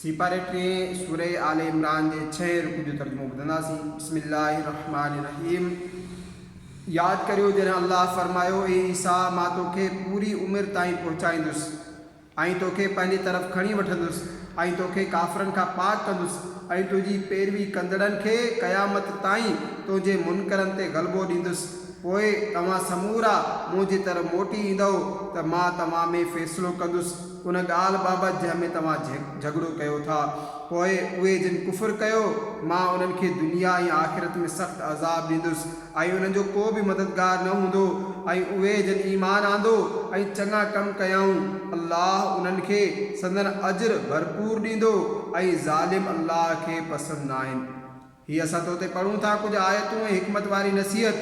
سيپاري ٽيهين سورة آل عمران جي ڇهين رڪوع جو ترجمو ٻڌنداسين، بسم الله الرحمٰن الرحيم ياد ڪريو جڏهن الله فرمايو، اي عيسيٰ مان توکي پوري عمر تائين پهچائيندس ۽ توکي پنهنجي طرف کڻي وٺندس ۽ توکي ڪافرن کان پاڪ ڪندس ۽ تنهنجي پيروي ڪندڙن کي قيامت تائين تنهنجي منڪرن تي غلبو ڏيندس پوء توهان سمورا منهنجي طرف موٽي ايندؤ ته مان توهان ۾ فيصلو ڪندس. ان ڳالهه بابت جنهن ۾ توهان جهڳڙو ڪيو ٿا، پوء اهي جن ڪفر ڪيو، مان انهن کي دنيا ۽ آخرت ۾ سخت عذاب ڏيندس، ۽ انهن جو ڪو به مددگار نه هوندو، ۽ اهي جن ايمان آندو ۽ چڱا ڪم ڪيائون، الله انهن کي سندن اجر ڀرپور ڏيندو، ۽ ظالم الله کي پسند ناهن. هي اسان تو تي پڙهون ٿا ڪجهه آيتون ۽ حڪمت واري نصيحت،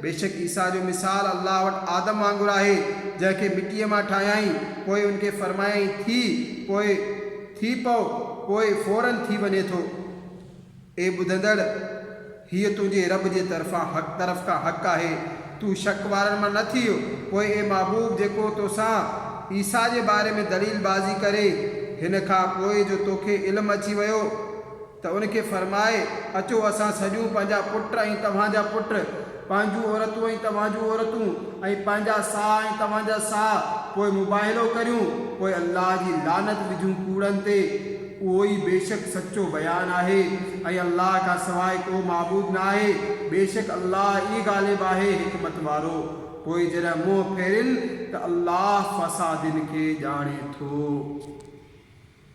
بيشڪ عيسيٰ جو مثال الله وٽ آدم وانگر آهي، جنهن کي مٽيء مان ٺاهيائين، پوء ان کي فرمايائين ٿي، پوء ٿي پئو، پوء فوراً ٿي وڃي ٿو. اي ٻڌندڙ! هيء تنهنجي رب جي طرفان حق طرف کان حق آهي، تون شڪ وارن مان نه ٿيء، پوء اي محبوب جيڪو توسان، عيسيٰ، جي باري ۾ دليل بازي ڪري، هن کان پوء جو توکي علم اچي ويو، ته ان کي فرماء، اچو اسان سڏيون پنهنجا پٽ ۽ توهان جا پٽ، پنهنجون عورتون ۽ توهان جون عورتون، ۽ پنهنجا ساهه ۽ توهان جا ساهه، پوء مباهلو ڪريون، پوء الله جي لعنت وجهون ڪوڙن تي، اهو ئي بيشڪ سچو بيان آهي، ۽ الله کان سواء ڪو معبود نه آهي، بيشڪ الله ئي غالب آهي حڪمت وارو، پوء جڏهن منهن ڦيرين ته الله فسادين کي ڄاڻي ٿو.